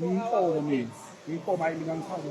Ngiyinkomo mina. Ngiyinkomo hayi mina ngifana.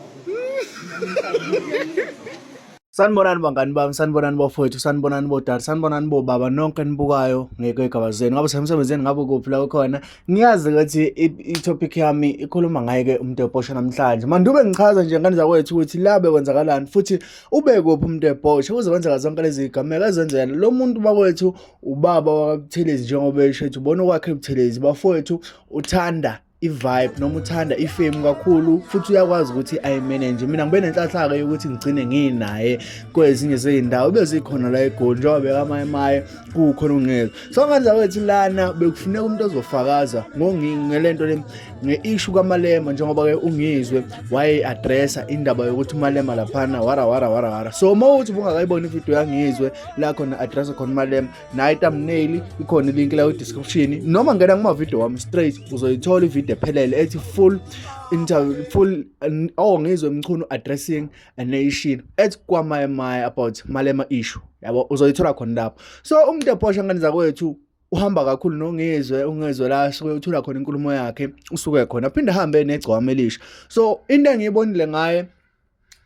Sanibonani bangani bami, sanibonani bafowethu, sanibonani bodade, sanibonani bobaba nonke nibukayo ngekweygaba zenu. Ngabe semsebenzini ngabe kuphi la khona. Ngiyazi ukuthi i-topic yami ikhuluma ngaye ke umuntu ebhosha namhlanje. Mandube ngichaza nje ngane zakwethu ukuthi la bekwenzakalani futhi ube kuphi umuntu ebhosha kuze kwenzeka zonke lezi zigameko ezenzela. Lo muntu bakwethu ubaba wakabuthelezi njengoba esho ukuthi ubona okwakhe ebuthelezi bafowethu uthanda i-vibe noma uthanda ifemu kakhulu futhi uyakwazi ukuthi ayimanage mina ngibe nenhlanhlaka yokuthi ngigcine nginaye kwezinye zey'ndawo ubezikhona la egoli njengoba bekamaye maye kukhona ungezwa so ngandla kwethu lana bekufuneka umuntu ozofakaza ngelento le nge-ishu kamalema njengoba-ke ungizwe waye-adressa indaba yokuthi umalema laphana wara wara wara wara so uma uthi ubungakayiboni ividiyo yangizwe la khona adressa khona umalema nayo thumbnail ikhona ilink la description noma ngena kuma video wami straight uzoyithola ivideo ephelele ethi full interview full oh ngizwe mchunu addressing a nation ethi kwamaya maya about malema issue yabo uzoyithola khona lapho so umuntu ephosha ngane zakwethu uhamba kakhulu nongizwe ungezwe la suke uthula khona inkulumo yakhe usuke khona phinde hambe negcwama elisha so into engiyibonile ngaye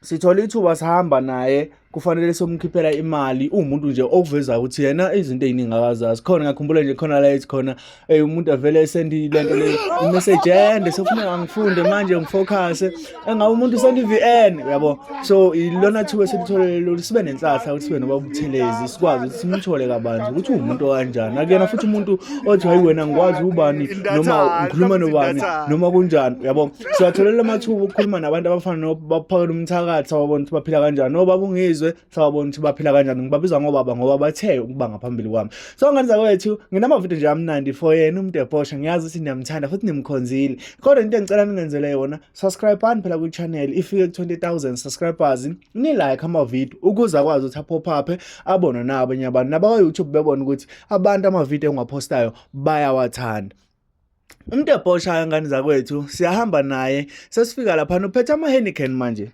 sithola ithuba sihamba naye kufanele somkhiphela imali uwumuntu nje okuvezayo ukuthi yena izinto eziningi akazazi khona ngakhumbula nje khona la ethi khona ey umuntu avele esendi lento le message ende sofuna angifunde manje ngifocuse engabe umuntu sendi VN uyabo so ilona thuba esilitholele lolu sibe nenhlahla ukuthi sibe nobabuthelezi sikwazi ukuthi simthole kabanzi ukuthi uwumuntu kanjani akuyena futhi umuntu othi hayi wena ngikwazi ubani noma ngikhuluma nobani noma kunjani uyabo siwatholela amathuba okukhuluma nabantu abafana nobaphakela umthakathi sawabona ukuthi baphila kanjani nobaba ungizwe sawabona ukuthi baphila kanjani ngibabiza ngobaba ngoba bathe ukuba ngaphambili kwami so ngane zakwethu nginamavidiyo nje amnandi for yena umuntu ebhosha ngiyazi ukuthi niyamthanda futhi nimkhonzile kodwa into engicela ningenzele yona subscribani phela kwi-channel ifike ku-20000 subscribers nilike amavidiyo ukuze akwazi ukuthi aphophaphe abonwe nabanye abantu nabakwa-youtube bebona ukuthi abantu amavidiyo engiwaphostayo bayawathanda umuntu ebhoshayo ngane zakwethu siyahamba naye sesifika laphana uphethe ama-henican manje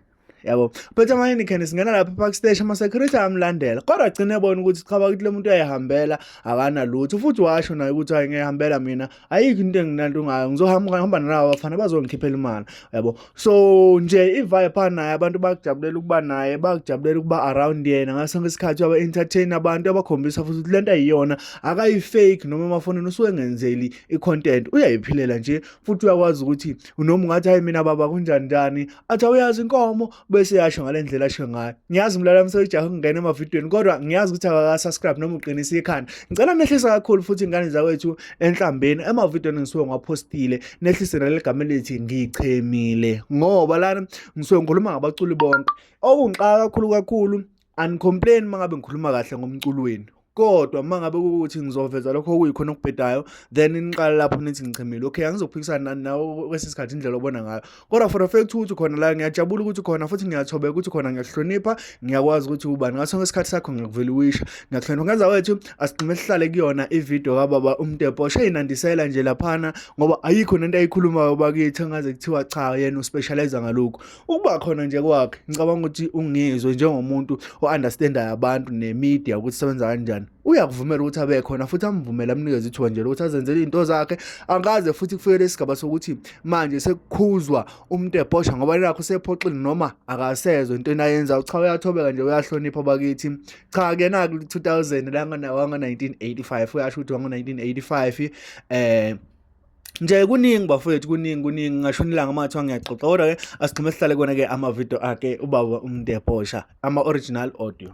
yabo uphethe ama-henican singena lapha epark stage ama-security amlandela kodwa gcine ebona ukuthi chaba ukuthi le muntu uyayihambela akanalutho futhi washo naye ukuthi hayi ngiyayihambela mina ayikho into enginanto ngayo ngizohamba nalaba bafana bazongikhiphela imali yabo so nje i-viper naye abantu bakujabulela ukuba naye bakujabulela ukuba around yena ngaso sonke isikhathi aba-entertain abantu abakhombisa futhi ukuthi le nto ayiyona akayi-fake noma emafonini usuke engenzeli i-content uyayiphilela nje futhi uyakwazi ukuthi noma ungathi hayi mina baba kunjani njani athi awuyazi inkomo bese yasho ngale ndlela asho ngayo ngiyazi mlala mseyijaha ukungena emavidiyweni kodwa ngiyazi ukuthi akakasubscribe noma uqinisa ikhanda ngicela nehlisa kakhulu futhi ingane zakwethu enhlambeni emavidiyweni engisuke ngiwaphostile nehlise naleli gama elithi ngichemile ngoba lana ngisuke ngikhuluma ngabaculi bonke okungixaka kakhulu kakhulu anicomplain uma ngabe ngikhuluma kahle ngomculo wenu kodwa uma ngabe kukuthi ngizoveza lokho okuyikhona okubhedayo then niqala lapho nithi ngichemile okay angizophikisana nani nawe kwesinye isikhathi indlela obona ngayo kodwa for a fact ukuthi khona la ngiyajabula ukuthi khona futhi ngiyathobeka ukuthi khona ngiyahlonipha ngiyakwazi ukuthi ubani ngaso sonke isikhathi sakho ngiyakuvela uwisha ngiyakuhlonipha ngenza wethu asigcime sihlale kuyona ividiyo kababa umtepo sheyinandisela nje laphana ngoba ayikho nento ayikhulumayo bakithi engaze kuthiwa cha yena uspecialize ngalokhu ukuba khona nje kwakhe ngicabanga ukuthi ungizwe njengomuntu o-understandayo abantu nemedia ukuthi sebenza kanjani uyakuvumela ukuthi abe khona futhi amvumele amnikeze ithuba nje lokuthi azenzele izinto zakhe angaze futhi kufikele isigaba sokuthi manje sekukhuzwa umuntu ebhosha ngoba nakho usephoxile noma akasezwe into enayenza cha uyathobeka nje uyahlonipha bakithi cha kuyena ku 2000 la ngana wanga 1985 uyasho ukuthi wanga 1985 eh nje kuningi bafowethu kuningi kuningi ngasho nilanga mathiwa ngiyaxoxa kodwa ke asigxime sihlale kona ke ama video akhe ubaba umntu ebhosha ama original audio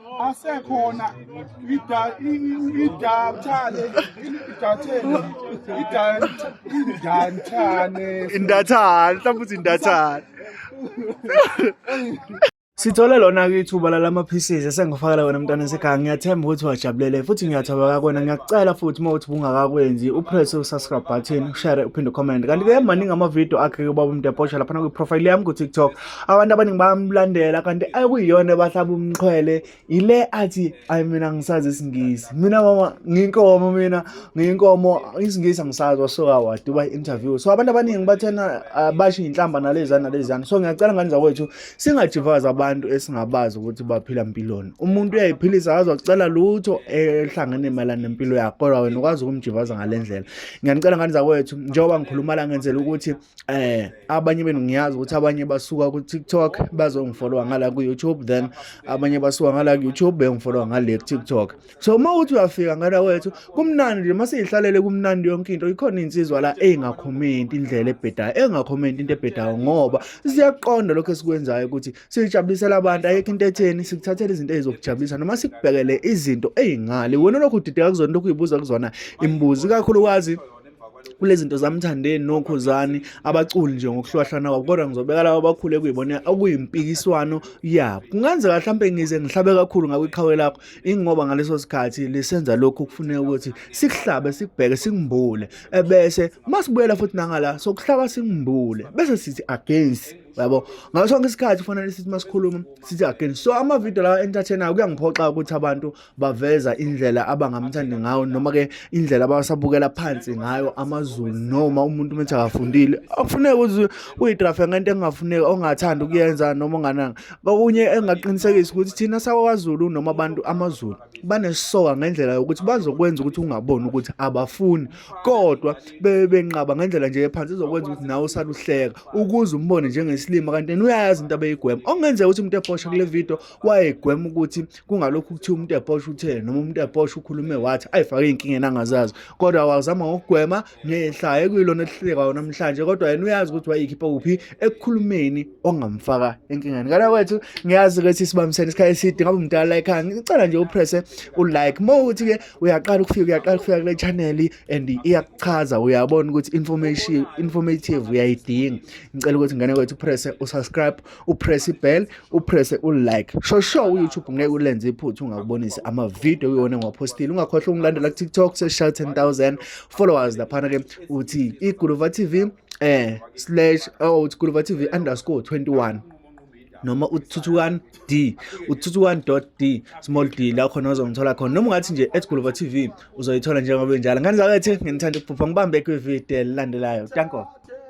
asekhona idathane idathane indathane mhlawumbe uthi indathane Sithole lona-ke ithuba lalama pieces esengifakela wena mntwana sekhaya ngiyathemba ukuthi wajabulele futhi ngiyathaba kakwena ngiyakucela futhi uma uthi bungakakwenzi upress u-subscribe button ushare uphinde ucomment kanti-ke maningi ama-video akhe-ke ubaba umntu eposha laphana kwi-profile yami ku-tiktok abantu abaningi bayamlandela kanti akuyiyona ebahlaba umxhwele yile athi ayi mina ngisazi isingisi mina mama ngiyinkomo mina ngiyinkomo isingisi angisazi wasuka waduba i-interview so abantu abaningi bathena ah, basho iy'nhlamba naleziyana naleziyana so ngiyacela ngane zakwethu singajivazi abantu esingabazi ukuthi baphila mpiloni umuntu uyayiphilisa akazi wacela lutho ehlangene mayelana nempilo yakho kodwa wena ukwazi ukumjivaza ngale ndlela ngiyanicela ngane zakwethu njengoba ngikhuluma la ngenzela ukuthi eh abanye benu ngiyazi ukuthi abanye basuka ku TikTok bazongifollowa ngala ku YouTube then abanye basuka ngala ku YouTube bengifollowa ngale ku TikTok so uma uthi uyafika ngala wethu kumnandi nje mase ihlalele kumnandi yonke into ikhona insizwa la engakhomenti indlela ebhedayo engakhomenti into ebhedayo ngoba siyaqonda lokho esikwenzayo ukuthi sijabulisela abantu ayekho into etheni sikuthathela izinto ezokujabulisa noma sikubhekele izinto ezingale wena lokho udideka kuzona lokho uyibuza kuzona imibuzi kakhulu kwazi kulezinto zamthandeni nokhuzani abaculi nje ngokuhlwahlana kwabo kodwa ngizobeka laba abakhule kuyibona okuyimpikiswano yabo kungenzeka mhlawumbe ngize ngihlabe kakhulu ngakwiqhawe lakho ingoba ngaleso sikhathi lisenza lokhu kufuneka ukuthi sikuhlabe sikubheke sikumbule ebese masibuyela futhi nangala sokuhlaba sikumbule bese sithi against yabo ngaso sonke isikhathi kufanele sithi masikhuluma sithi again so ama video lawa entertainer kuyangiphoxa ukuthi abantu baveza indlela abangamthandi ngayo noma ke indlela abasabukela phansi ngayo amazulu noma umuntu umethi akafundile akufuneki ukuthi uyidrafe ngento engafuneki ongathanda ukuyenza noma ongananga bakunye engaqinisekisa ukuthi thina sakwazulu noma abantu amazulu banesoka ngendlela yokuthi bazokwenza ukuthi ungaboni ukuthi abafuni kodwa bebe benqaba ngendlela nje ephansi izokwenza ukuthi nawe usaluhleka ukuze umbone njengesilima kanti uyayazi into abeyigwema okungenzeka ukuthi umuntu eposha kule video wayegwema ukuthi kungalokhu kuthiwa umuntu ebhosha uthele noma umuntu ebhosha ukhulume wathi ayifake ey'nkingeni angazazi kodwa wazama ngokugwema nehlaye kuyilona elihlekayo namhlanje kodwa yena uyazi ukuthi wayikhipha kuphi ekukhulumeni ongamfaka enkingeni kanti kwethu ngiyazi ukuthi sibambisene isikhathi eside ngabe umdala la ekhaya ngicela nje upresse ulike uma ukuthi-ke uyaqala ukufika uyaqala ukufika kule channel and iyakuchaza uyabona ukuthi information informative uyayidinga ngicela ukuthi ngane kwethu upresse usubscribe upress ibell upresse ulike sho sho uyoutube ngeke ulenze iphutha ungakubonisi amavidiyo uyona ngiwaphostile ungakhohlwa ungilandela kutiktok seshaw 10000 followers laphana ke uthi iguluva tv eh slash oh uthi guluva tv underscore 21 noma uthuthukan d uthuthukan d small d la khona uzongithola khona noma ungathi nje at guluva tv uzoyithola njengoba benjalo ngani zakwethe nginithanda ukuphupha ngibambe kwividiyo elandelayo danko